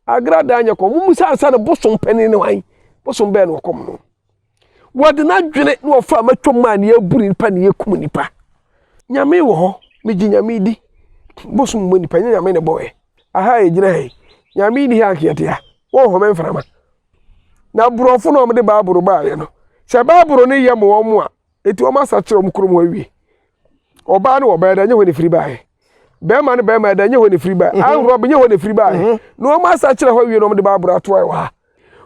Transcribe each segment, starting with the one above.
Agrada nyɛ kɔm mu sɛ ansa no bosom panin ne wan bosom bɛɛ na ɔkɔm no wɔde n'adwene na wɔfa a matwam maa ne abu nipa ne yɛkum nipa nyame wɔ hɔ megye nyame di bosom mu nipa nyɛ nyame ne bɔɛ aha ɛgyina ha yi nyame ni ha ankeɛte ha wɔnhome mframa na borɔfo na wɔde baaboro baayɛ no sɛ baaboro no yɛ mo wɔn a Enti wɔasakyera wɔn kurom hɔ awie. Ɔbaa ne ɔbaa ɛda nyɛ hɔ na ɛfiri baeɛ. Bɛrima ne bɛrima ɛda nyɛ hɔ na ɛfiri baeɛ. Ahorɔ nyɛ hɔ na ɛfiri baeɛ. Na wɔasakyera hɔ awie na wɔde Bible atoa wɔ ha.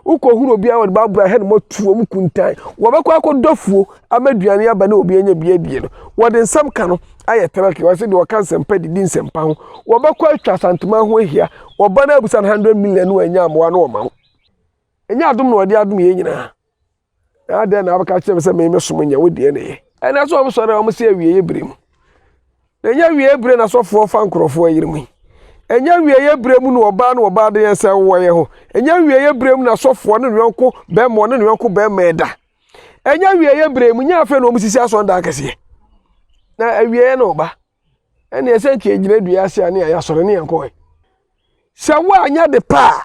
Wokɔhunu obiara wɔde Bible ahɛ ne mu atu wɔn kuntan. Wɔbɛkɔ akɔdɔ fuo ama aduane aba ne obi anya bi adie no. Wɔde nsɛm ka no ayɛ tɛrɛke. Wɔse deɛ ɔka nsɛmpa didi nsɛmpa ho. Wɔbɛkɔ atwa Asantuma ho ahia. Wɔba no abusa no 100 million no wɔanya mmoa no wɔma wo. Ɛnyɛ adom na wɔde adom yei nyinaa. Na adɛn na wobɛka kyerɛ me sɛ me mesom nyɛ wo deɛ na ɛyɛ? Ɛnɛ so wɔsɔre a wɔsi awieɛ berɛ mu. Na ɛnyɛ awieɛ berɛ na sɔfoɔ fa nkurɔfoɔ yere mu yi. Ɛnyɛ awieɛ berɛ mu na ɔbaa ne ɔbaa de yɛn sɛ wowɔ yɛn ho. Ɛnyɛ awieɛ berɛ mu na sɔfoɔ ne ne yɔnko bɛrima ɔne ne yɔnko bɛrima ɛda. Ɛnyɛ awieɛ berɛ mu, nyɛ afei na wɔsisi asɔredan kɛseɛ. Na awieɛ na ɔba. ɛne ɛsɛ nka yɛgyina dua ase a ne yɛayɛ asɔre ne yɛn kɔɛ sɛ woanyɛ de pa a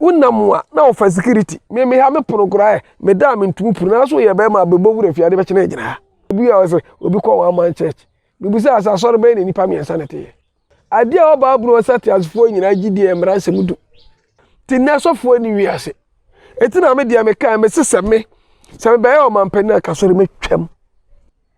wonam a na wofa sikiriti meme ha me pono koraa ɛ meda a mentumi puru nanso yɛ bɛrima a bɛbɔ wura fie ade bɛkyena agyina ha obi a ɔsɛ obi kɔ wɔn aman church mebusaa sɛ asɔre bɛyɛ na nnipa mmiɛnsa na ɛteyɛ adeɛ a ɔbaa bunu ɔsɛ teasefoɔ nyinaa gye deɛ mmara nsɛm du te nnɛ sɔfoɔ ne wi ase ɛti na me deɛ meka me se sɛ me sɛ mebɛyɛ ɔmampanin a kasɔre mɛtwam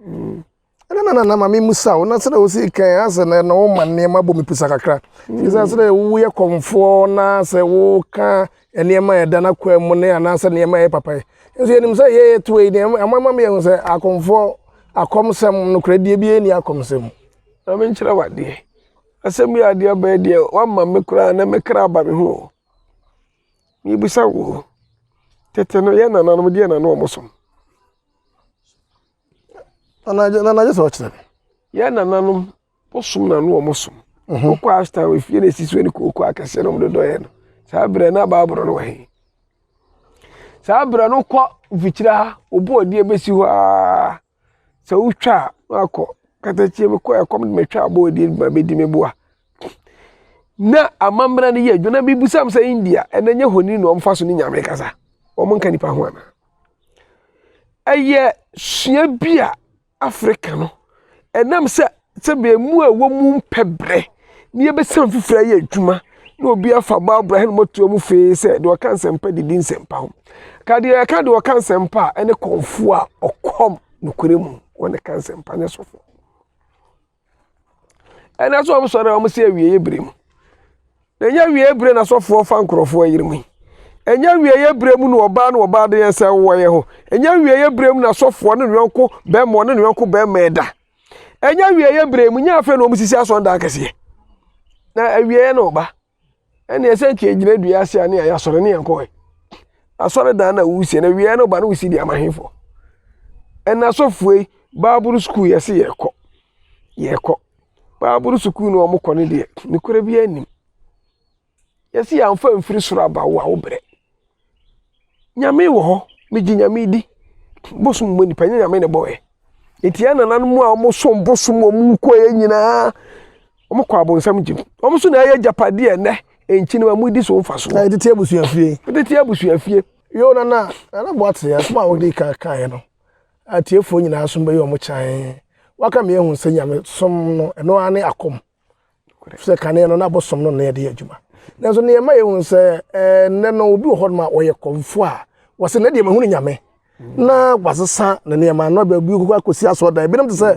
mm. ɛna na nana ma memusa wo na sɛdɛ wo sii kan asɛ na na woma nneɛma bɔ me pusa kakra firi sɛ sɛdɛ woyɛ kɔmfoɔ na sɛ woka nneɛma a ɛda no akoa mu ne anaasɛ nneɛma a ɛyɛ papa yi nso yɛnim sɛ yɛyɛ toa yi deɛ ama ma meyɛhu sɛ akɔmfoɔ akɔmsɛm nokorɛdeɛ bi ɛni akɔmsɛm na menkyerɛ wadeɛ asɛm yi adeɛ aba yi deɛ wama me koraa na mekra aba me ho mebisa wo tete no yɛ nananom deɛ na ne ɔmo som Nana agye nana agye sɛ ɔkyerɛ. Yɛn nananom bosom na no wɔn som. Mhm. Wokɔ ashtan wɔ efie na esi so ne kooko akɛseɛ na wɔn dodɔ yɛ no. Saa berɛ na baaboro no wɔ he. Saa berɛ no kɔ mfikyire ha obu ɔde ebesi hɔ aa. Sɛ wotwa a na akɔ katakyie mu kɔ ɛkɔm de metwa abɔ ɔde ma bedi me boa. Na amammerɛ no yɛ adwuma na mibisa m sɛ India ɛnɛ nyɛ honi na wɔn fa so ne nyame kasa. Wɔn nka nipa ho ana. Ɛyɛ sua bi a Africa no, ɛnam sɛ sɛdeɛ mmoa a ɛwɔ mu mpɛ berɛ na yɛbɛsa foforɔ ayɛ adwuma na obi afa Barbara Hɛn Motoa mu fee sɛ deɛ ɔka nsɛmpa de di nsɛmpa ho. Ka deɛ ɛka deɛ ɔka nsɛmpa a ɛne kɔmfoɔ a ɔkɔm nokorɛ mu wɔne ka nsɛmpa ne sɔfoɔ. ɛnɛ nso wɔn sɔre a wɔn si awieɛ bere mu na ɛnyɛ awieɛ bere na sɔfoɔ fa nkurɔfoɔ ayere mu yi ɛnyɛ awieɛ bere mu na ɔbaa na ɔbaa de nsa wɔyɛ ho ɛnyɛ awieɛ bere mu na sɔfoɔ ne yɔnko bɛrima ɔne ne yɔnko bɛrima ɛda ɛnyɛ awieɛ bere mu nyɛ afei na wɔn sisi asɔndan kɛseɛ na awieɛ na ɔba. ɛne ɛsɛ nka egyina dua ase a ne a yɛasɔre ne yɛn kɔɛ asɔredan na wusie na wia no ba no wusi de ama henfo ɛna asɔfoɔ yi baabolo sukuu yɛsi yɛkɔ yɛkɔ baabolo sukuu no wɔn kɔ ne deɛ ne kura bi anim yɛsi yɛn anfa mfiri soro aba wo a wo brɛ. Nyame wɔ hɔ, megye Nyame di. Bosom mmɔ nipa, ɛnyɛ Nyame na ɛbɔ ɛ. Enti yɛn nananom a wɔsom bosom a wɔkɔeɛ nyinaa, wɔkɔɔ abonsam gyem. Wɔn nso na ɛyɛ agyapadeɛ a ɛnnɛ nkyene ma modi so mfasoɔ. Na yɛtete abusuafie. Yɛtete abusuafie. Yoo Nana, Nana Boatse, asɛm a wode kan kaeɛ no, atiefoɔ nyinaa nso bɛyɛ wɔn kyan. Woaka me ahu sɛ nyamesom no, ɛno ara ne akɔm. sɛ kane no na bosom no na yɛde yɛ adwuma nanso nea ɛma yɛhu sɛ eh, nnɛ no obi wɔ hɔ nom a ɔyɛ kɔmfo a wɔsɛ na deɛ mahu no nyame na wasesa ne nneɛma na baabi kɔkɔ akɔsi asɔ dan ebinom te sɛ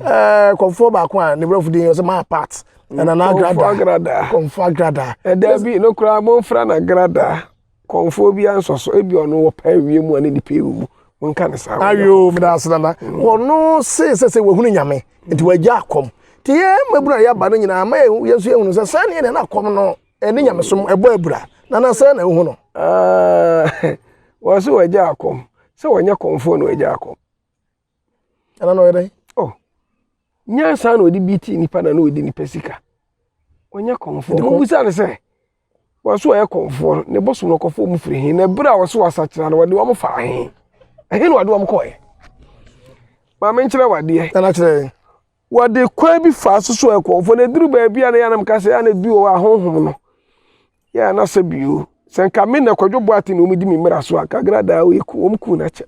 eh, kɔmfo baako a ne brɛfo din yɛ sɛ maa part ɛna na agrada kɔmfo agrada ɛda bi no koraa momfra no agrada Kɔmfoɔ bi ansɔ so ebi ɔno wɔ pɛ awie mu a ne nipa ewu mu monka ne saa. awie o meda ase dada mm. ɔno se sɛ sɛ wahunu nyame nti wagya akɔm te yɛ mmabunu a yɛaba no nyinaa ma yɛn nso yɛhunu sɛ saa ne yɛn na akɔm no ɛne nyamesom ɛbɔ abura na na sɛ na ehu no. wɔn so wagya akɔm sɛ wɔnyɛ kɔmfoɔ na wagya akɔm. Ana na ɔyɛ dɛn? Oh, nyansa na ɔde bi ti nipa na na ɔdi nipa sika. Ɔnyɛ kɔnfoɔ. Mo bisa ne sɛ, wɔso ɔyɛ kɔnfoɔ ne bosom no kɔfoɔ mu firi he na ebere a wɔso asakyera no wɔde wɔn faa he. Ɛhe na wɔde wɔn kɔɛ? Maame nkyerɛ wadeɛ. Ɛna kyerɛ. Wɔde kwan bi faa so so ɛkɔmfoɔ na ɛduru baabi a na yɛanam ka sɛ ana bi wɔ hɔ a honhom no yɛ anasa bio sɛ nka me na kwadwo boate na wɔdi me mmara so a nka gradaa a wɔku wɔn kuu no akyɛ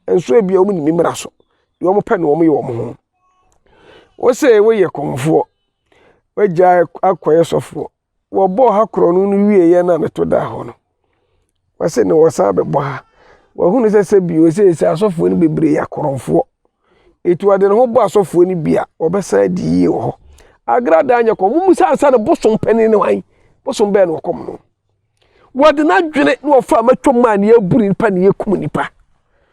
nso ebi a wɔn ni me mmara so deɛ wɔn pɛ na wɔn yɛ wɔn ho wɔsɛ wɔyɛ kɔmfoɔ wɔagya akɔyɛ sɔfoɔ wɔbɔɔ ha korɔno no wieeɛ no a meto daa hɔ no wɔse na wɔsan bɛbɔ ha wɔhunu sɛ sɛ bio seesei asɔfoɔ no bebree yɛ akorɔmfoɔ ɛti wɔde ne ho bɔ asɔfoɔ no bi a wɔbɛsan adi yie wɔ hɔ agradaa nyɛ kɔm mu sɛ ansa no bosom panin no wan bosom bɛɛ na wɔkɔm no wɔde n'adwene na wɔfa matwam maa ne aburu nipa ne yɛkum nipa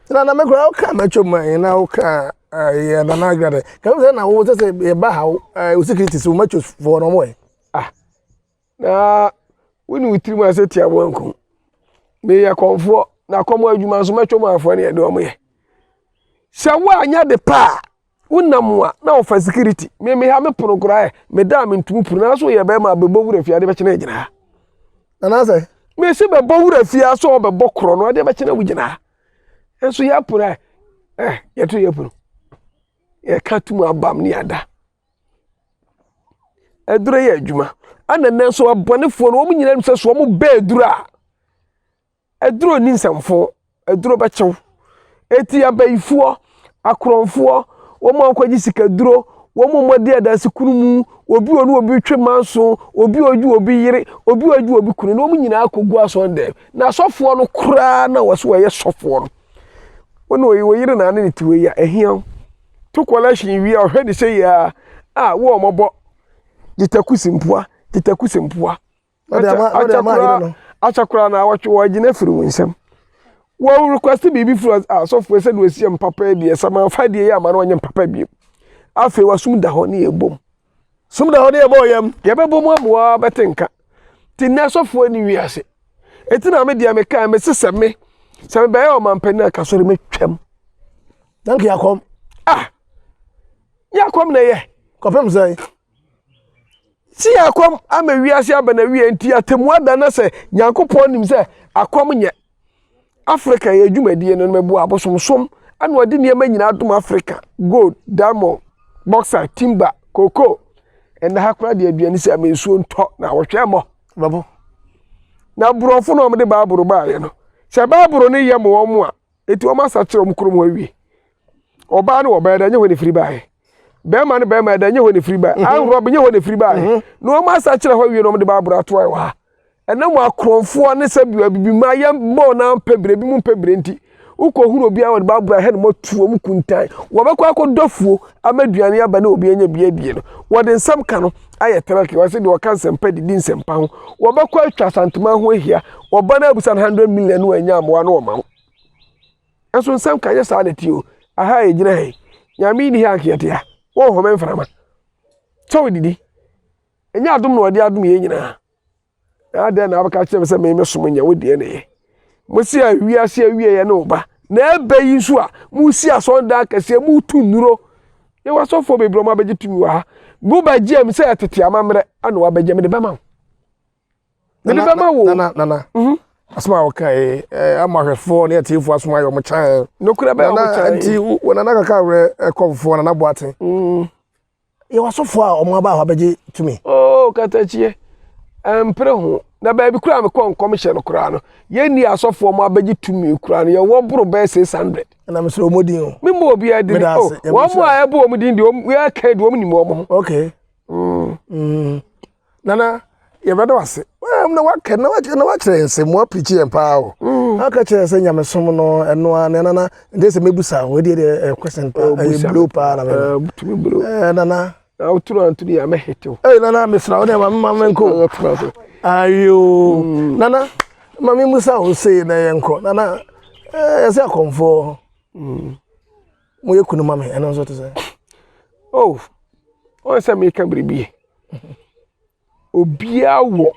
na na mekora woka matwam ma yɛ na woka yɛ nana agrada ka wo sɛ na wo sɛ sɛ yɛba ha wo security sɛ wo matwam foɔ no ɔmɔ ɛ ah na wone wo tirim ase te amoanko meyɛ kɔmfoɔ na kɔm adwuma nso mɛtwa mu afoɔ ne ɛde ɔmo yɛ sɛ woanyɛ de pa a wonam a na wofa security meme ha me pono koraa ɛ meda a mentumi puru nanso yɛ bɛrima bɛbɔ wura fie ade bɛkyena agyina ha nanasɛ mesi bɛbɔ wura fie a sɛ ɔbɛbɔ korɔ no ade bɛkyena wogyina ha nso yɛ pono ɛ yɛto yɛ pono yɛka tum abam ne ada Aduro yɛ adwuma. Ɛna nnɛ nso abɔnefoɔ no wɔn nyinaa nim sɛ so wɔn bɛ aduro a aduro ni nsɛmfo aduro bɛkyew. Eti abayifoɔ, akorɔmfoɔ, wɔn a wɔkɔgye sikaduro, wɔn a wɔadi adansi kunu mu, obi a ɔne obi retwe manso, obi a ɔgye obi yere, obi a ɔgye obi kunu na wɔn nyinaa kɔgu asɔn dɛm. Na asɔfoɔ no koraa na wɔso wɔyɛ sɔfoɔ no. Wɔn wɔyere na ane ne tiwei a ɛhia wo. to kɔlɛhyen wie a, ɔhwɛ ne sɛ yie ara a wo a wɔbɔ gyetakusi mpoa gyetakusi mpoa akyɛ koraa na awɔtwe wɔagyina afiri wo nsam wɔn request biribi firi asɔfoɔ sɛ deɛ wɔsi yɛ mpapa yi deɛ sɛ ma fa deɛ yɛ ama no ɔnyɛ mpapa bio afei wasum da hɔ ne yɛ bom sum da hɔ ne yɛ bɔ yɛm yɛbɛbɔ mu amoa bɛte nka te nnɛ asɔfoɔ ni wi ase eti na me deɛ me kaa me sesɛ me sɛ me bɛyɛ ɔmampanin akasɔre me twɛm. Na nka yɛakɔm. Ah! Yɛakɔm na ɛyɛ. Kɔpem sɛn? Si yɛakɔm ama wiase aba na wie nti atemu ada na sɛ Nyankopɔn nim sɛ akɔm nyɛ. Africa yɛ dwumadie no mɛboa abosomsom ɛna ɔde nneɛma nyinaa adom Africa gold, diamond, bauxite, timber, cocoa. Ɛnna ha koraa deɛ aduane sɛ ama nsuo ntɔ na wɔhwɛ mmɔ. Babo. Na borɔfo na wɔde baaboro baayɛ no. Sɛ baaboro no yɛ ma wɔn a Enti wɔasakyer wɔn kurom hɔ ewie. Ɔbaa ne ɔbaa, ɛda nyɛ hɔ na efiri baeɛ. Bɛrima ne bɛrima, ɛda nyɛ hɔ na efiri baeɛ. Mhm. Anrɔb nyɛ hɔ na efiri baeɛ. Mhm. Na wɔn asakyer hɔ awie na wɔn de Bible atoae wɔ ha. Ɛnam akorɔmfoɔ ne sɛbi abibima yɛ bɔɔ na mpɛbrɛ ebi mu mpɛbrɛ nti, wokɔhunu obiara wɔde Bible ahɛ no mɔtu wɔn kuntan. Wɔbɛkɔ akɔdɔ afuo ama aduane aba na obi anya bi adie no, wɔde nsɛm ka no. ayɛ tɛrɛk wɔn sɛ deɛ wɔka nsɛmpa didi nsɛmpa ho wɔbɛkɔ atwa asantuma ho ahia wɔba no abusa no hundred million no anya mmoa no wɔma wo ɛnso nsɛm ka nyɛ saa na ti o aha a ɛgyina ha yi nyame ni ha nkeɛte a wɔnhome mframa kyɛw didi ɛnyɛ adom na wɔde adom yɛ nyinaa na adɛn na wobɛka kyerɛ me sɛ me mesom nyɛ wo deɛ na ɛyɛ mose a wiase awieɛ ne wo ba na ɛbɛ yi nso a mosi asɔndan kɛseɛ motu nnuro yɛ wasɔfoɔ bebrɛ ɔma bɛgye tumi wɔ ha mobɛgye m sɛ ɛtete amammerɛ ana wabɛgye mede bɛma wo mede bɛma wo nana nana mhm. asɛm a wɔkae ama hwɛfoɔ ne atiefoɔ asom ayɛ ɔmo kyan nokorɛ bɛyɛ ɔmo kyan nti nana kaka werɛ ɛkɔmfoɔ nana boaten mm. Yɛwɔ asɔfoɔ a wɔn aba hɔ abɛgye tumi. Oo oh, katakyie ɛmpere ho na baabi koraa mekɔ nkɔmhyɛ no koraa no yɛnni asɔfoɔ wɔn abɛgye tumi koraa no yɛwɔ boro bɛyɛ six hundred. ɛna mesrɛ wɔn din o. me mu obiara din o wɔn a ɛbɔ wɔn din deɛ wɔn yɛ kɛn deɛ wɔn nim wɔn ho. okay. Mm. Mm. nana yɛbɛda wase na waka na wakyerɛ na wakyerɛ yɛn sɛ moa pirikyi yɛn paa o mm. aka kyerɛ sɛ nyamesom no ɛno a na nana nde sɛ mɛbusa ho ɛdeɛ deɛ eh, question oh, ɛyɛ eh, blow paa na mɛbɛ eh, nana wotoro antoro yɛ amɛhetew ɛyɛ nana mesra wo dɛ ma mema menkɔ ayo mm. nana ma memusa ho sei na yɛnkɔ nana ɛsɛ akɔmfoɔ mm. Moyɛ kunu ma me, ɛno nso te sɛ. Oh, wɔn sɛ meka biribi. Obiara wɔ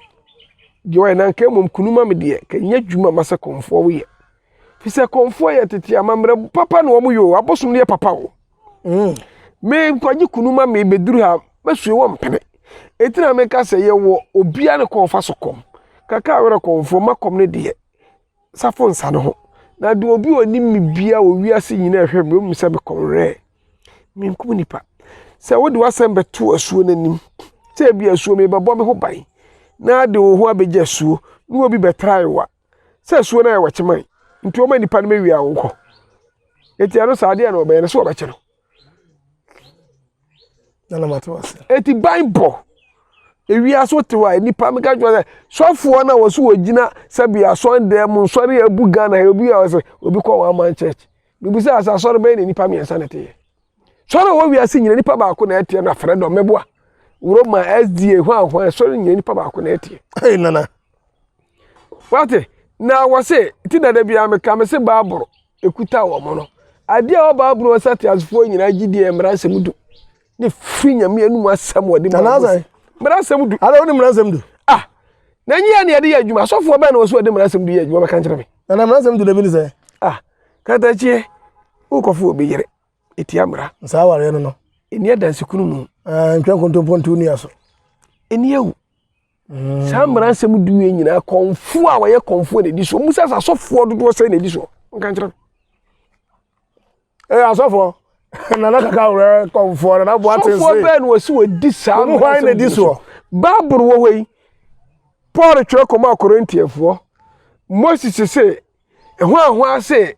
deɛ ɔyɛ na nka mmom kunu ma me deɛ, ka nyɛ adwuma ma sɛ kɔnfoɔ woyɛ. Fi sɛ kɔnfoɔ yɛ tete amammerɛ papa na wɔn yɛ o, abosom no yɛ papa o. Mm. Me nkwagye kunu ma me bɛduru ha, mɛsue wɔn mpene. Eti na meka sɛ yɛwɔ obiara ne kɔnfa so kɔm. Kaka awerɛ kɔnfoɔ ma kɔm ne deɛ. safo nsa no ho. Na de obi a ɔnim me biara wɔ wiase nyinaa rehwɛ me, ɔbɛhu sɛ mekɔnwerɛɛ. Menkum nnipa. Sɛ wode w'asɛm bɛto asuo no anim, sɛ ebi asuo mebɛbɔ me ho ban na de wo ho abɛgya asuo na obi bɛtra ayewa sɛ asuo no ayɛ wakyeman nti ɔma nnipa no mewia wo nkɔ. Enti ɛno saa adeɛ na ɔbɛyɛ no sɛ ɔbɛkye no. ɛna mate wase eti ban bɔ ewia so te hɔ a nipa mi ka kyerɛ sɛ sɔfoɔ na wɔso wɔgyina sɛbi asɔn dɛm mu nsɔre ebu ghana yɛ obi a ɔsɛ obi kɔ wɔn aman church bibi sɛ asɛ asɔre bɛyɛ na nipa mmiɛnsa na ɛteyɛ sɔre wɔ wia se nyina nipa baako na ɛteɛ na fɛrɛ dɔm mɛboa roma sda hwan hwan sɔre nyina nipa baako na ɛteɛ ɛyɛ nana wate na wɔse ti dada biara meka me se baaboro ɛkuta wɔn no. Adeɛ a ɔbaa bunu ɔsa teasefoɔ nyinaa gye diɛ mmara nsɛm du. Ne firi nyame anum asɛm wɔde ma wɔn. Mmara nsɛm du. Ada wɔde mmara nsɛm du. Ah, na nyi yɛ ne yɛde yɛ adwuma. Asɔfoɔ bɛn na wɔso wɔde mmara nsɛm du yɛ adwuma bɛka nkyerɛ me. Na na mmara nsɛm du na bi ne sɛ. Ah, katakyie, wokɔfo obi yere, ɛtia mmara. Saa awareɛ no no. Ɛni adansekunu mu. Ah, ntwa nkontompo nto nua so. Ɛni awu. saa mmara nsɛm du yɛ nyinaa kɔnfoɔ a wɔyɛ kɔnfoɔ na ɛdi soɔ mu sɛ asɔfoɔ dodoɔ sɛ na ɛdi soɔ nka nkyerɛ ɛyɛ asɔfoɔ nana kaka wura kɔnfoɔ nana boa te nse sɔfoɔ bɛɛ na wɔsi wɔdi saa mu hwan na ɛdi soɔ baabolo wɔ hɔ yi paul twerɛ kɔma akorintiafoɔ moses se ɛho ahoa se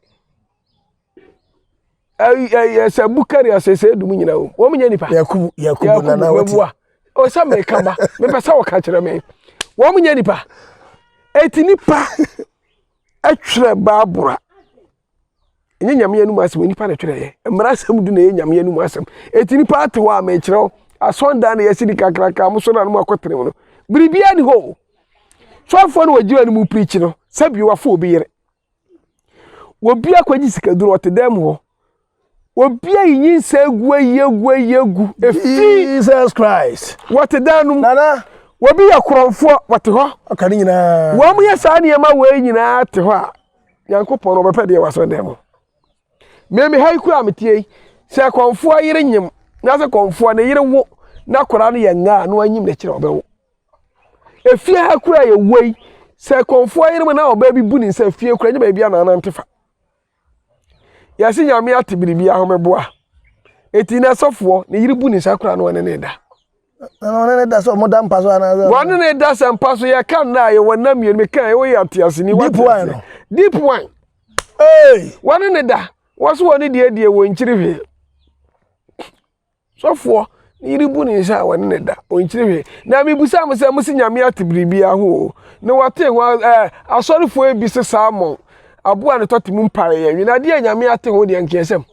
yɛsɛ bukari asese dum nyina wɔ wɔn nyɛ nipa yakubu yakubu nana wɔte ɔsɛ mɛka ba mɛpɛ sɛ ɔka kyerɛ mɛ wɔn nyɛ nipa eti nipa ɛtwerɛ baabura nye nyame anum asɛm nipa na ɛtwerɛ yɛ mmara asɛm du na ɛyɛ nyame anum asɛm eti nipa ate hɔ a mɛkyerɛ wo asɔndan na yɛsi di kakraka mo so na mo akɔ tene mu no biribiara ni hɔ sɔfoɔ no wɔ gyiwa no mu pirikyi no sɛbi wafo obi yere Obi akɔgye sikaduro ɔte dan mu hɔ. Obi ayi nyinsɛ agu ayi agu ayi agu. Efi Jesus Christ. Wɔte dan no mu. Nana. Obi yɛ korɔnfoɔ wɔte hɔ. Ɔka ne nyinaa. Wɔn yɛ saa nneɛma wei nyinaa te hɔ a Nyankopɔn ɔbɛpɛ deɛ wɔasɔ dan mu. Mmemme ha yi kura a metie yi sɛ kɔnfoɔ yere nyim na sɛ kɔnfoɔ ne yere wo na koraa no yɛ ngaa na wanyim n'akyiri a ɔbɛwo. Efie ha kura a yɛwɔ yi, sɛ kɔnfoɔ yere mu na ɔbaa bi bu ne nsa fie kura nyɛ baabi a nanante fa. Yɛse nyame ate biribi ahomeboa. Eti na sɔfoɔ ne yere bu ne nsa kura na ɔne ne da. Ɔne ne da sɛ ɔmo da mpa so anaasɛ. Wɔne ne da sɛ mpa so yɛ ka nna a yɛwɔ nna mmienu mi kan yɛwɔ yɛ atease ni. Deep wine no. Deep wine. Ee. Wɔne ne da. Wɔso wɔne die die wɔ nkyiri hwee. Sɔfoɔ ne yere bu ne nsa a wɔne no da, ɔnkyiri hwee. Na mebisa mo sɛ mose Nyame ate biribiara ho oo, na watee ho a eh, asɔrefoɔ yi bi se salmon, aboa ne tɔte mu mpaeɛ yɛ nwen, adeɛ a Nyame ate ho deɛ nkeɛsɛm,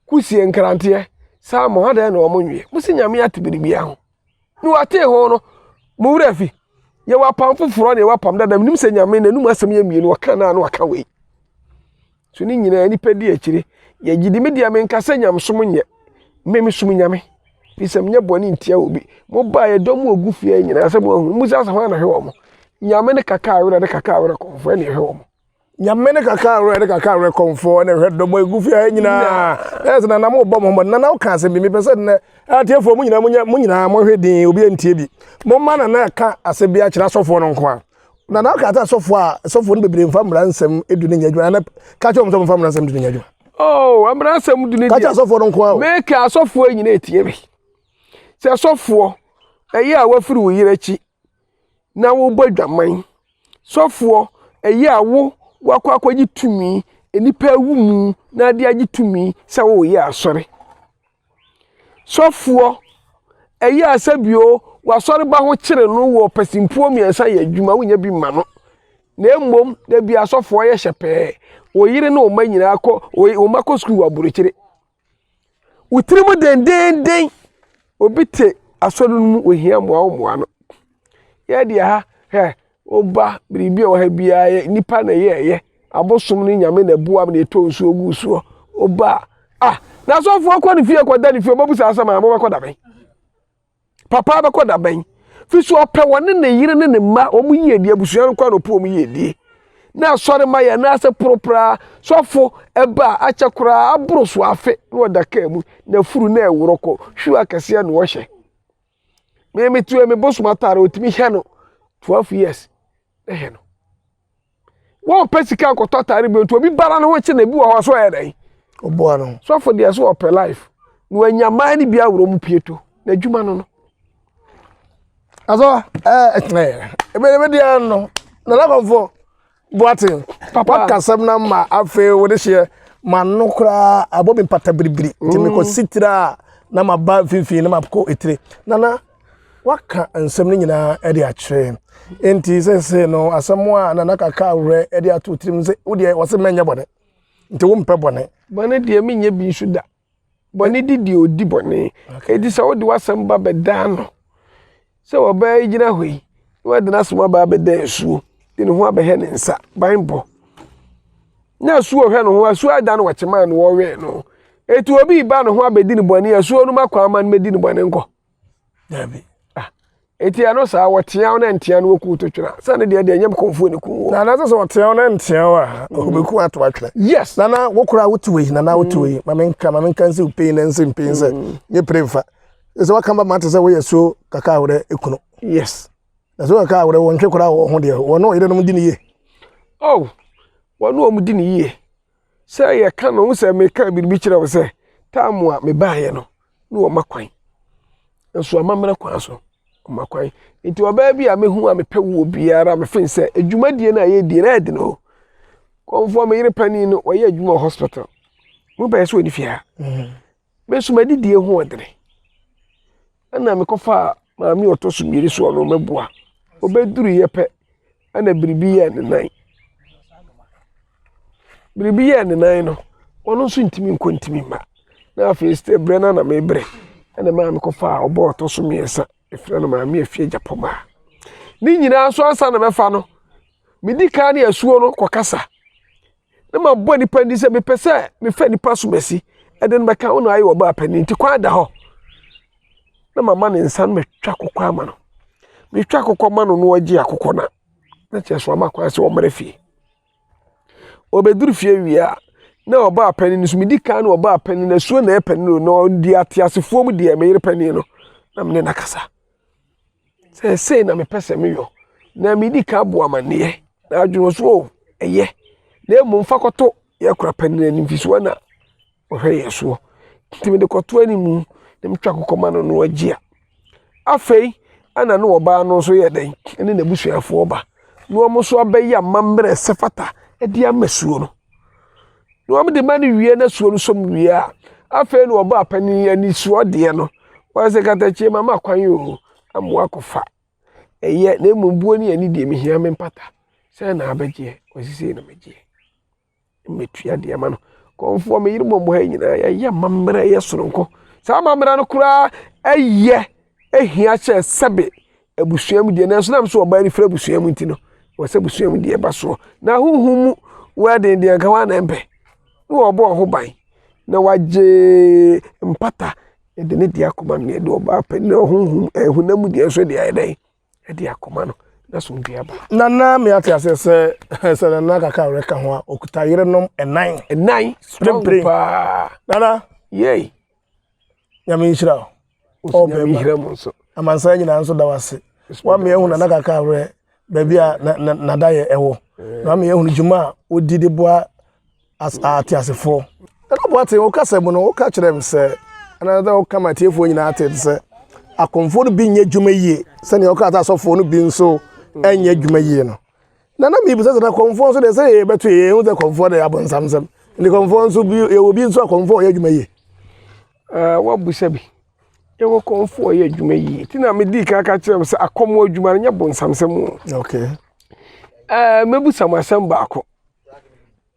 kusie, nkranteɛ, salmon, adɛn na wɔn nweɛ? Mose Nyame ate biribiara ho. Ne watee ho no, mo werɛ afi. Yɛwɔ apam foforɔ ne yɛwɔ apam dada. Menim sɛ Nyame n'anum asɛm yɛ mmienu, ɔka naa na waka wei. So ne nyinaa nnipa di akyire. Yɛgye di me deɛ menka sɛ nyamesom nyɛ. Me mesom Nyame. Fi sɛ menyɛ bɔne ntia obi. Mobaa yɛ dɔm ɔgu fie nyinaa sɛ mo ahunu. Mo sɛ asɛ hwan na hwɛ wɔn? Nyame ne kaka awerɛ ne kaka awerɛ kɔmfoɔ ɛne ɛhwɛ wɔn. nyame ne kaka awerɛ ne kaka awerɛ kɔmfoɔ ne hwɛ dɔmɔ ɛgu fie ha nyinaa ɛyɛ sɛ nana mobɔ mo hommɔ nana woka asɛm bi mepɛ sɛ nnɛ atiefoɔ mo nyinaa monyɛ mo nyinaa mohwɛ din obi antie bi momma nana ɛka asɛm bi akyerɛ asɔfoɔ no nko a nana woka sɛ asɔfoɔ a asɔfoɔ no bebree mfa mmara nsɛm du no nyɛ adwuma nana ka kyerɛ wɔn sɛ momfa mmara nsɛm du no nyɛ adwuma oh mmara nsɛm du no ka kyerɛ asɔfoɔ no nko a meka asɔfoɔ nyinaa ɛtie bi sɛ asɔfoɔ ɛyɛ a wafiri wo yerɛ akyi na wobɔ adwaman. Sɔfoɔ, ɛyɛ a wo wakɔ akɔgye tumi, nnipa awu mu na ade agye tumi sɛ woreyɛ asɔre. Sɔfoɔ, ɛyɛ a sɛ bio wasɔre ba ho kyere no wɔ pasimpuo mmiɛnsa yɛ adwuma wonya bi ma no. Na mmom da bi asɔfoɔ yɛ hyɛ pɛɛ, wo yere ne wo mma nyinaa kɔ, wo mma kɔ sukuu wɔ aburokyire. Wo tiri mu dendeenden. Obi te asɔre no mu ohia mmoa wo mmoa no. Yɛ deɛ ha hɛ woba biribi a wɔ ha biara yɛ nipa na ɛyɛ ɛyɛ abosom ne nyame na ɛboam na ɛtɔ nsuo gu soɔ woba a ah na asɔfoɔ kɔ ne fie kɔda ne fie ɔbɛbu saa asɛm a mobɛkɔ da bɛn Papa bɛkɔ da bɛn? Fi so ɔpɛ wɔne ne yere ne ne mma wɔn yiedie abusua no kɔ anɔpa wɔn yiedie. Na asɔre ma yɛn nan ase poro koraa. Sɔfo ɛba a akyɛ koraa aboro so afe na ɔda kaa mu na afuru na ɛworɔ kɔ hwiw akɛseɛ na ɔhyɛ. Me me tu me bosom atare otumi hyɛ no 12 years. ne hɛ no wɔpɛ sika nkɔtɔ atare bi nti obi bara ne ho kye na ebi wɔ hɔ so ɔyɛ dɛn ɔboa no sɔfo deɛ so ɔpɛ life na wanya mmaa no bi aworɔ mu pie to na adwuma no no asɔ ɛɛ ɛɛ ebe ebe deɛ no na lakɔnfo boaten waka sɛm na ma afei wɔde hyɛ ma no koraa abɔ mi mpata biribiri nti mekɔ sitira na ma ba finfin na ma kɔ etire nana. waka nsɛm no nyinaa de akyerɛ nti sɛsɛ no asɛm a nana kaka awerɛ de ato tirim sɛ wodeɛ wɔse mɛnyɛ bɔne nti wompɛ bɔne bɔne deɛ menyɛ bi nso da bɔne di deɛ ɔdi bɔne ɛti sɛ wode w'asɛm ba bɛdaa no sɛ wɔbɛyɛ gyina hɔ yi na wɔde n'asɛm aba abɛda asuo de ne ho abɛhɛ ne nsa ban bɔ na asuo hwɛ ne ho asuo ada no wɔkyemaa no wɔwɛɛ no ɛti obi ba ne ho abɛdi ne bɔne asuo no makɔ ama no mɛdi ne bɔne nkɔ dabi ah eti ɛno saa wɔteaw na nteaw no wɔku to twena sɛ ne deɛ deɛ nyɛ kɔnfuo ne kun wɔ. na anasɛ sɛ wɔteaw na nteaw a wɔbɛku mm. ato atwena. yes nana wo koraa wote wei nana wote wei mm. ma menka ma menka nsi wopei na nsi mpei sɛ mm. nyɛ pere mfa sɛ waka ba ma te sɛ woyɛ so kaka awerɛ ekunu. yes na sɛ kaka awerɛ wɔntwe koraa wɔ ho deɛ wɔne ɔyere nom di ne yie. oh wɔne wɔn di ne yie. Sɛ yɛka no, wohu sɛ meka biribi kyerɛ wo sɛ tam a mebaeɛ no ne wɔma kwan. Nso amammerɛ kwan so, wɔma kwan. Nti ɔbaa bi a mehu a mepɛ wo biara mefen sɛ adwumadie no a yɛdie no ɛyɛ den o. Kɔmfoɔ me yere panin no wɔyɛ adwuma wɔ hospital. Mo bɛyɛ sɛ ɔni fie ha. Me nso m'adidie ho ɔdene. Ɛna mekɔfaa maame ɔtɔ so mmienu so ɔno mɛboa. Ɔbɛduruiɛ pɛ ɛna biribi yɛɛ ne nan. Biribi yɛɛ ne nan no, ɔno nso ntumi nkɔ ntumi mma. Na afei sɛ berɛ no na mebrɛ ɛna maa mekɔfaa ɔbɔ ɔtɔ so mmiɛnsa ɛfrɛ no maame afie gyapɔmaa. Ne nyinaa nso ansa na mɛfa no, medi kan ne asuo no kɔkasa. na mabɔ nipa ndi sɛ mepɛ sɛ mefa nipa asomasi ɛde no bɛka wo na ayɛ ɔbaa panin nti kwan da hɔ na mama ne nsa no matwa akokɔ ama no metwa akokɔ ma no na ɔgye akokɔ na na kyerɛ so ama kwan sɛ ɔmmara fie ɔbɛduru fie wie a na ɔbaa panin no so medi kan na ɔbaa panin no asuo na ɛyɛ panin no na ɔdi ateasefoɔ mu deɛ meyere panin no na mene no akasa sɛ sei na mepɛ sɛ meyɔ na medi ka bɔ amanneɛ na adwene so o ɛyɛ na mmom fa kɔto yɛ kora pɛ no anim firi na ɔhwɛ yɛ soɔ nti mede kɔto anim na metwa kokɔ ma no no agye a afei ɛna ne ɔbaa no nso yɛ dɛn ne n'abusuafoɔ ba na wɔn nso abɛyɛ amammerɛ sɛ fata de ama suo no na wɔn de ma no wie na suo no som wie a afei na ɔbɔ apanin anisoɔ deɛ no wɔn sɛ katakyie ma ma kwan o amoa kɔfa ɛyɛ na mmom buo ne ani deɛ mehia me mpata sɛ na abɛgyeɛ wɔsisei na megyeɛ mmetua deɛ ma no kɔnfoɔ me yere mmɔmmɔ ha nyinaa yɛyɛ mammerɛ yɛ soronko saa mammerɛ no koraa ɛyɛ ɛhia kyɛ sɛbe abusua mu deɛ nanso nam so ɔbaa no firi abusua mu nti no wɔsɛ abusua mu deɛ ɛba soɔ na ahohom mu wɛden deɛ nka wɔn na mpɛ na wɔbɔ wɔn ho ban na wagye mpata ɛde ne deɛ akoma no deɛ ɛde ɔbaa pɛ na ahohom ɛhonam mu deɛ nso deɛ ayɛ dɛn ɛde akoma no na so deɛ aba. nana mi ate ase sɛ sɛ nana kaka a ɔreka ho a ɔkuta yerenom ɛnan. ɛnan strong paa. nana. yei. nyame nhyira wo ɔbɛma amansan nyinaa nso da wase wame ahu nana kaka awerɛ baabi a nadayɛ ɛwɔ na wame ahu dwuma a wodi de boa ateasefoɔ ɛna boate wo kasɛ mu no woka kyerɛ m sɛ ɛna sɛ woka ma atiefoɔ nyinaa te sɛ akomfoɔ no bi nyɛ dwuma yie sɛnea woka sɛ asɔfoɔ no bi nso ɛnyɛ dwuma yie no Na na mebisa sɛ na kɔmfoɔ nso deɛ sɛ yɛ bɛto yɛ ho sɛ kɔmfoɔ deɛ abɔnsam sɛm nti kɔmfoɔ nso bi yɛwɔ bi nso a kɔmfoɔ yɛ adwuma yie ɛɛ wabusa bi yɛwɔ kɔmfoɔ yɛ adwuma yie ti na medi kan ka kyerɛ sɛ akɔmɔ adwuma no nyɛ bɔnsam sɛm o okay ɛɛ mɛbusa mo asɛm baako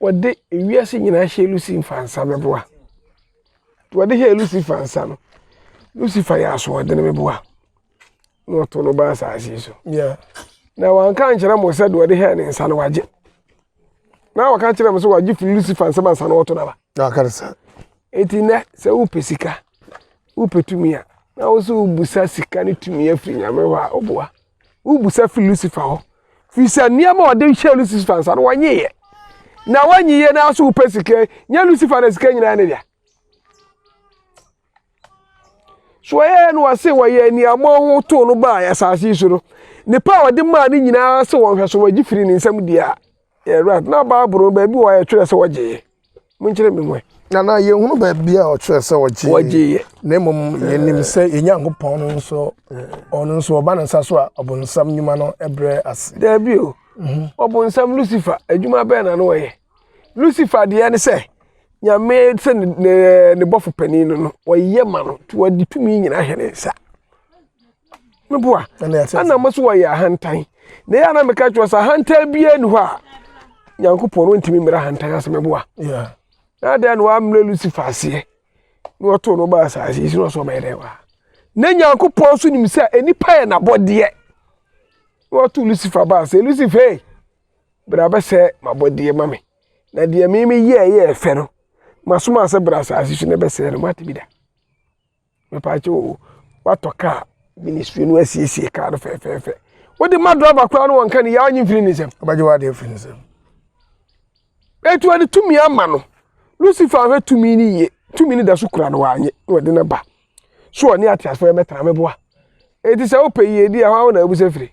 wɔde wiase nyinaa hyɛ Lucifer nsa bɛboa. Deɛ wɔde hyɛ Lucifer nsa no, Lucifer yɛ asoɔden meboa na ɔto no ba asase so. Yeah. Na wanka nkyerɛ mo sɛ deɛ wɔde hyɛ ne nsa no wagye. Na wɔka kyerɛ mo sɛ wagye firi Lucifer nsɛm ansa na ɔto no aba. Na ɔka no saa. Eti nnɛ sɛ wopɛ sika, wopɛ tumi a, na wo nso wobusa sika ne tumi afiri Nyame hɔ a, ɔboa. wobisa firi lucifer hɔ firi sɛ nneɛma a ɔde hyɛ lucifer nsa no wɔnyeeɛ na wɔnyeeɛ na so wopɛ sika nyɛ lucifer na sika nyinaa ne dea so ɔyɛɛ no ɔse wɔyɛ nneɛma ho too no baa asase yi so no nipa a ɔde maa ne nyinaa sɛ wɔnhwɛ so wɔgye firi ne nsam deɛ a Yɛwura, na Bible no baabi wɔ a ɛtwerɛ sɛ wɔgyeeɛ? Monkyerɛ me mu ɛ. Na na yɛhunu baabi a ɔtwerɛ sɛ ɔgyeeɛ. Wɔgyeeɛ. Na mmom yɛnim sɛ yɛn Nyankopɔn no nso, ɔno nso ɔba ne nsa so a ɔbonsam nnwuma no brɛ ase. Daabi o. Mhm. Ɔbonsam Lucifer, adwuma bɛn na na ɔyɛ? Lucifer deɛ ne sɛ, Nyame sɛ ne, ne, ne bɔfo panin no no, ɔyɛ ma no, nti wɔde tumi nyinaa hyɛ ne nsa. meboa ɛna mo so wɔyɛ ahantan na yɛ ana meka kyerɛ sɛ ahantan biara ni hɔ a nyankopɔn no ntumi mmira ahantan ase meboa na adɛn na wammrɛ lucifer aseɛ na wɔtoo no baa asase yi so na ɔsɛ ɔbɛyɛ dɛn wɔ ha na nyankopɔn so nim sɛ nnipa yɛ n'abɔdeɛ na wɔto lucifer baa sɛ lucifer bra bɛsɛ m'abɔdeɛ ma me na deɛ meme yɛɛ yɛɛ fɛ no masoma sɛ bra asase so na ɛbɛsɛe no moate bi da Mepakyɛ o, woatɔ kaa, ministry no asiesie kaa no fɛfɛɛfɛ. Wode ma driver koraa no wɔnka ne yaa nye mfiri ne nsam. Ɔbɛgye w'ade afiri ne nsam. Etu ɔde tumi ama no. Lucifer ahwɛ tumi no yie. Tumi no da so kura no wanye na ɔde no ba. So ɔne ateasefo yɛ mɛtra meboa. Eti sɛ wopɛ yiedi a, hwan na abusa firi?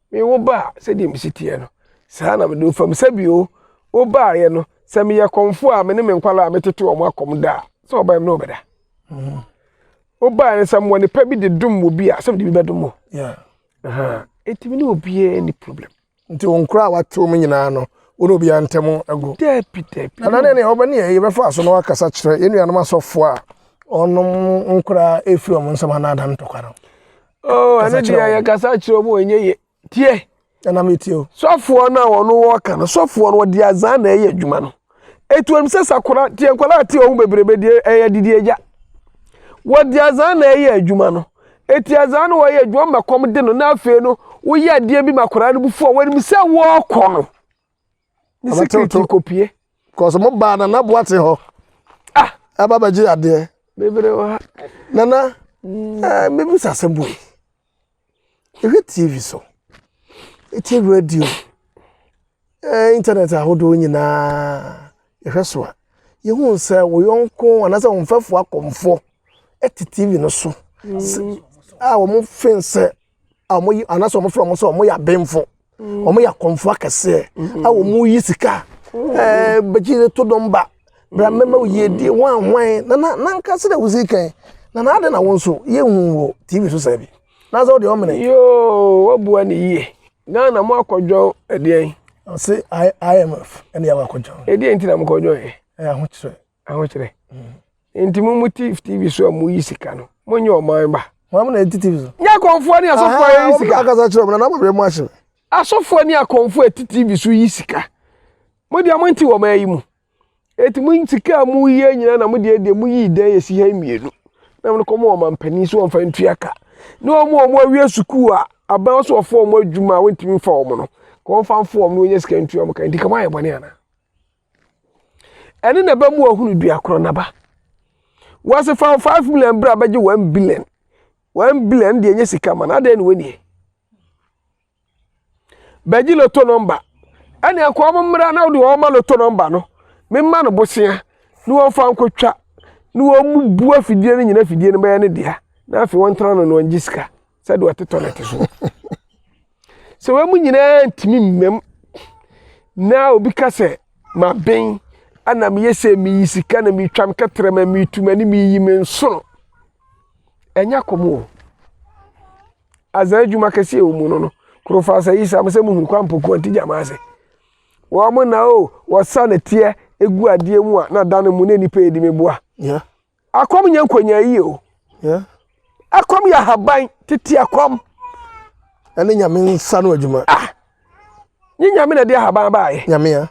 Me wo ba a, sɛdeɛ me si teɛ no, saa na mede wo fam. Sɛbio, wo baeɛ no, sɛ meyɛ kɔmfoɔ a, me ne me nkwadaa a metete wɔn akɔm da a, sɛ wɔba me ne wo bɛda. Mm-hmm. Wo baeɛ no, sɛ mewɔ nipa bi de dom wɔ bi a, sɛ mede bi bɛdom wo. Enti me ne obiara ni problem. Nti wo nkora a watew mu nyinaa no, wo ne obiara ntam agu. Dabi, dabi. Ɛna ne ne ɔbɛ ne yɛ bɛfa so na wakasa kyerɛ yɛn nuanom asɔfoɔ a ɔnom nkora efiri wɔn nsɛm anaa adan ntɔkwa no. Oh, ɛno deɛ yɛ kasa kyerɛ mu ɛnyɛ yɛ tie. Ɛna mi tie o. Sɔfoɔ no a wɔn wɔ ka no sɔfoɔ no wɔde azan na ɛyɛ adwuma no. Etu wɔn sɛ sakora tie nkwadaa tie wɔn bebrebe deɛ ɛyɛ didi agya. Wɔde azan na ɛyɛ adwuma no. Eti azan no wɔyɛ adwuma ma kɔm de no na afei no woyɛ adeɛ bi ma akwadaa no bu fo a wɔnim sɛ wɔrekɔ no. ne security kɔpie kɔsɛ mo baa na naboa te hɔ ah. ɛba bɛgye adeɛ bebree wɔ ha nana mm. eh, mebisa sɛ boi ɛhwɛ tv so ɛtie radio eh, internet ahodoɔ nyinaa ɛhwɛ so a yɛhu sɛ wo yɔnko anaasɛ wo mfɛfoɔ akɔmfoɔ ɛte tv no so mm. a wɔn fen sɛ a wɔn yi anaasɛ wɔn fira wɔn sɛ wɔn yɛ abɛnfo mm. wɔn yɛ akɔnfo akɛseɛ mm-hmm. a wɔn yi sika mm-hmm. ɛɛ bɛgye de to dɔm ba bra mmɛma wo yie die wɔn ahwan na na na nka sɛ na wosi kan na na adi na wɔn nso yɛ hu wɔ tv so sɛbi na sɛ ɔde ɔmene. yoo wabua ne yie ghana mo akɔdwɔn ɛdeɛn. ɔsi imf ɛna yɛ wakɔdwɔn. ɛdeɛn ti na mo kɔdwɔn yɛ. ɛyɛ ahokyerɛ. ahokyerɛ nti mo mo tv tv so a mo yi sika no mo nyɛ ɔman ba. mo amuna eti tv so. nyɛ akɔnfoɔ ni asɔfoɔ yɛ yi sika. akasa kyerɛ ɔmuna n'amɔ bɛ mu ahyɛ. asɔfoɔ ni akɔnfoɔ eti tv so yi sika mo deɛ mo nti wɔ ɔman yi mu eti mo sika a mo yɛ nyinaa na mo deɛ deɛ mo yi dan esi ha mmienu na mo kɔ mo wɔ ɔman panyin so wɔn fa ntua ka ne wɔn a wɔn awie sukuu a aban so wɔfɔ wɔn adwuma a wɔntumi nfa wɔn no kɔn fa nfo wɔn na wɔnya sika ntua wɔn ka nti kama ayɛ bɔne ana. Ɛne na ɛbɛma wahunu dua korɔ n'aba. Wɔse fa wo five million bra bɛgye one billion. One billion deɛ nye sika ma no, adɛn na wɔnnie? Bɛgye loto nɔmba. Ɛne ɛkɔ wɔn mmra na wode wɔn ma loto nɔmba no. Memma no bosea na wɔmfa nkɔtwa na wɔn bu afidie no nyina afidie no bɛyɛ ne dea na afei wɔntena no na wɔngye sika sɛdeɛ ɔtetɔ no te soɔ. Sɛ wɔn mu nyinaa ntumi mmam na obi ka sɛ, Maben, ana meyɛ sɛ meyi sika na metwa me kɛtrɛma, metu m'ani, meyi me nsono. Ɛnyɛ kɔm o. Azan adwuma kɛseɛ wɔ mu no no, kurofaa sɛ yi saa mo sɛ muhunu kwan mpɔkuwa nti gyama ase. Wɔn na o, wɔsa nɛteɛ egu adeɛ mu a na dane mu na nnipa edi me boa. Yeah. Akɔm nyɛ nkonyaayi o. Akɔm yɛ ahaban, tete akɔm. Ɛne nyame nsa no adwuma. Ah! Nye nyame na ɛde ahaban baayɛ. Nyame a.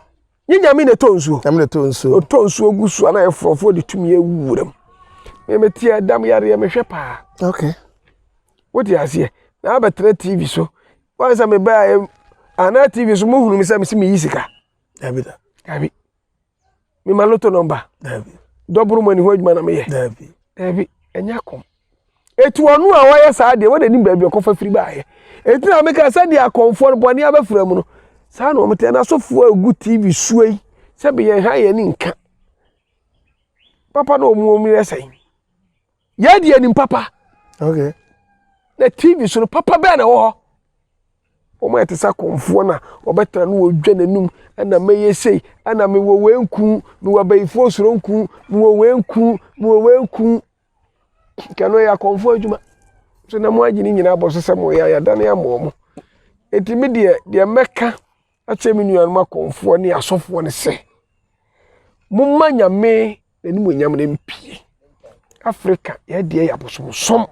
Nye nyame na ɛtɔ nsuo. Nyame na ɛtɔ nsuo. Ɔtɔ nsuo gu so a na yɛ forɔfoɔ de tumi awu wuram. Me me teɛ dam yareɛ mehwɛ paa. Okay. Wote aseɛ. Na abɛtena TV so. Wansa me baa anaa TV so mohunu me sɛ me si me yi sika. Dabi da. Dabi. mema loto nɔmba dɔboro mu ani ho adwuma na meyɛ daabi daabi ɛnyɛ kɔm etu ɔno a ɔyɛ saa deɛ wɔde nim baabi ɔkɔfa firi baayɛ eti na meka sɛ deɛ akɔnfoɔ no bɔne abɛfra mu no saa na wɔn tɛ n'asɔfoɔ egu tv suo yi sɛ beyɛn ha yɛn ni nka papa na wɔn wɔn yɛ sɛn. Yɛn deɛ nim papa. Okay. Na TV so no papa bɛɛ na ɛwɔ hɔ. Wɔn ayɛ te sɛ akɔmfoɔ na wɔbɛtena no wɔdwa n'anum ɛna mɛyɛ sei ɛna mewɔ wei nku mewɔ abayifoɔ soro nku mewɔ wei nku mewɔ wei nku kɛno yɛ akɔmfoɔ adwuma so na mo agye ne nyinaa bɔ so sɛ mo yɛ ayadane ama wɔn eti mi deɛ deɛ mɛka akyerɛ me nuanom akɔmfoɔ ne asɔfoɔ no sɛ momma nyame n'animuonyam no mpie afrika yɛdeɛ yɛ abosomsom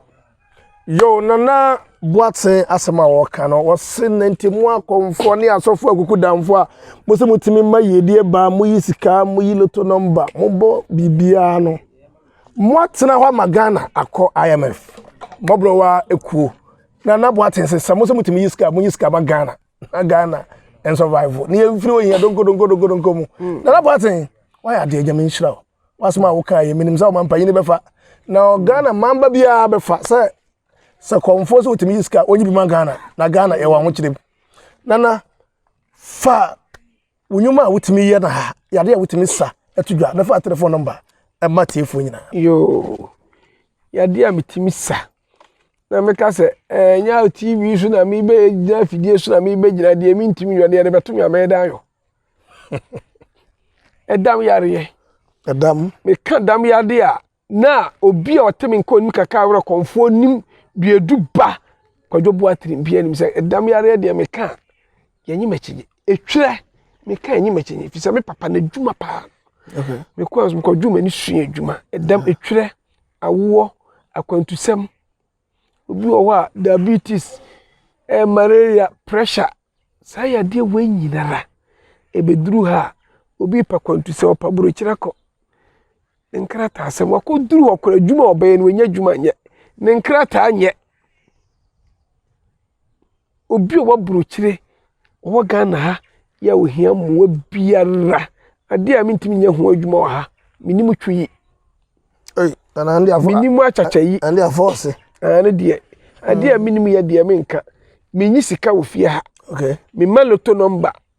yo nana boaten asɛm a wɔka no wɔse nante mu akɔmfoɔ ne asɔfoɔ akuku damfoɔ a mo sɛ motumi ma yiedie baa moyi sika moyi loto nɔmba mobɔ biribiara no moatena hɔ ama ghana akɔ imf mmɔborɔwa ekuo nana boaten sɛ sɛ mo sɛ motumi yi sika monyi sika ma ghana na ghana ɛnsurvive ne yɛmfiri ohia donkodonkodonkodonko mu hmm. nana boaten wayɛ adeɛ gyama nhyira o wasɛm a woka yɛ menim sɛ woma mpanyin no bɛfa na ghana mamba biara bɛfa sɛ sɛ kɔmfoɔ sɛ wotumi yi sika ɔnyi bi ma ghana na ghana yɛwɔ ahokyerɛ mu nana fa Wo nnwuma a wotumi yɛ na ha yɛ ade a wotumi sa to dwa. Bɛfa telefon nɔmba ma tiefoɔ nyinaa. Yoo, yɛ ade a metumi sa na meka sɛ ɛnyɛ eh, TV so na mebɛgyina afidie so na mebɛgyina deɛ mentumi yɔ no yɛde bɛto me a mɛyɛ dan yɔ. Ɛdam yareɛ. Ɛdam. Meka dam yadeɛ a Na obi a ɔte me nka onim kakra werɛ kɔmfoɔ nim duadu ba kwadwo boa tirim bia nim sɛ ɛdam yareɛ deɛ meka a yɛnye mɛkyegye ɛtwerɛ meka ɛnye mɛkyegye ɛfiri sɛ me papa no adwuma paa mekɔ mekɔdwo m'ani sua adwuma ɛdam ɛtwerɛ awoɔ akwantusɛm Obi wɔ hɔ a diabetes, ɛɛ malaria, pressure, saa yadeɛ wei nyinara ɛbɛduru ha a, obi repɛ akwantusɛm, ɔpɛ aburokyire akɔ, ne nkrataasɛm, wakɔduru hɔ koraa adwuma a ɔbɛyɛ no, wanya adwuma nyɛ, ne nkrataa nyɛ. Obi a ɔwɔ aburokyire, ɔwɔ Ghana ha yɛ a ɔhia mmoa biara, adeɛ a mentumi nyɛ ho adwuma wɔ ha, menim twi yi. Ei, nana ande afɔ. Menim akyakya yi. Ande afɔ ɔse. Ah, ne deɛ. Adeɛ a menim yɛ deɛ menka. Menyi sika wɔ fie ha. Okay. Mema loto nɔmba.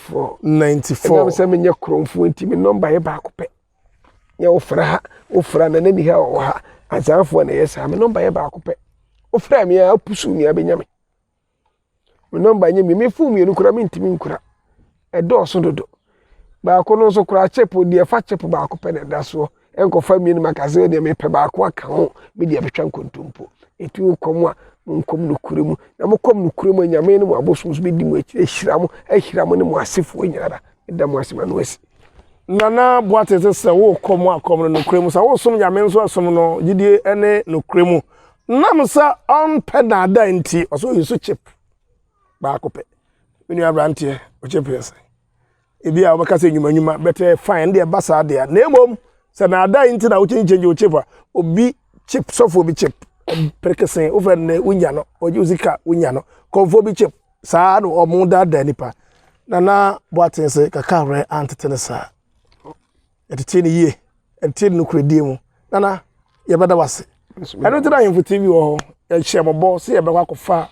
For ninety four. Ɛnam sɛ menyɛ korɔmfoɔ nti me nɔmba yɛ baako pɛ. Nyɛ wofra ha wofra na na miha wɔ ha azaafoɔ na ɛyɛ saa me nɔmba yɛ baako pɛ. Wofra mi a apusu mi abɛnya me. Me nɔmba nyɛ mi me fon mmienu koraa mentumi nkura. Ɛdɔɔso dodo. Baako no nso koraa chip deɛ fa chip baako pɛ na ɛda soɔ. ɛnkɔfa mmienu mu aka sɛ deɛ mepɛ baako aka ho me deɛ bɛtwa nkontompo ɛti wokɔm a monkɔm nokorɛ mu na mokɔm nokorɛ mu a nyame ne mo abosom so bɛdi mo akyiri ahyira mo ahyira mo ne mo asefoɔ nyinara ɛda mo ase ma no asi nana boate te sɛ wokɔ mu akɔm no nokorɛ mu sɛ wosom nyame nso asom no gyidie ne nokorɛ mu nam sɛ ɔmpɛ daadaa nti ɔsɛ ɔyi so chip baako pɛ me nua aberanteɛ ɔkyɛ pɛ sɛ Ebia wobɛka sɛ nnwuma nnwuma, but eh, fine, ɛno deɛ ɛba saa deɛ a. Na mmom, sɛ na adan nti na wokyin change wo chip a, obi chip, sɔfoɔ bi chip, perekese, wofɛ no dɛ, wonya no, ɔgye wo sika, wonya no, kɔmfoɔ bi chip, saa na wɔn daadaa nipa. Nana Boateng se kaka werɛ antete no saa. Yɛtetee no yie. Yɛtetee no nokorɛdie mu. Nana, yɛbɛda wo ase. Ɛno nti na Ahemfo TV wɔ hɔ. Yɛhyɛ mo bɔ sɛ yɛbɛkɔ akɔfa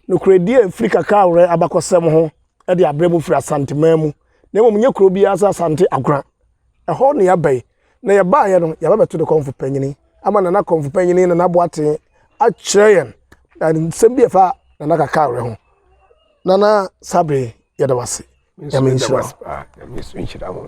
nokorɛdie a ɛfiri Kakrawerɛ abakɔsɛm ho de abrɛ mo firi Asanteman mu. Na mmom nyɛ kuro biara sɛ Asante Agora. Ɛhɔ na yɛaba yi. Na yɛbaeɛ no, yɛaba bɛto ne kɔmfo panyini ama Nana kɔmfo panyini Nana Boateng akyerɛ yɛn nsɛm bi a ɛfa Nana Kakrawerɛ ho. Nana Sabri, yɛda wo ase. Nyame nhyira wo.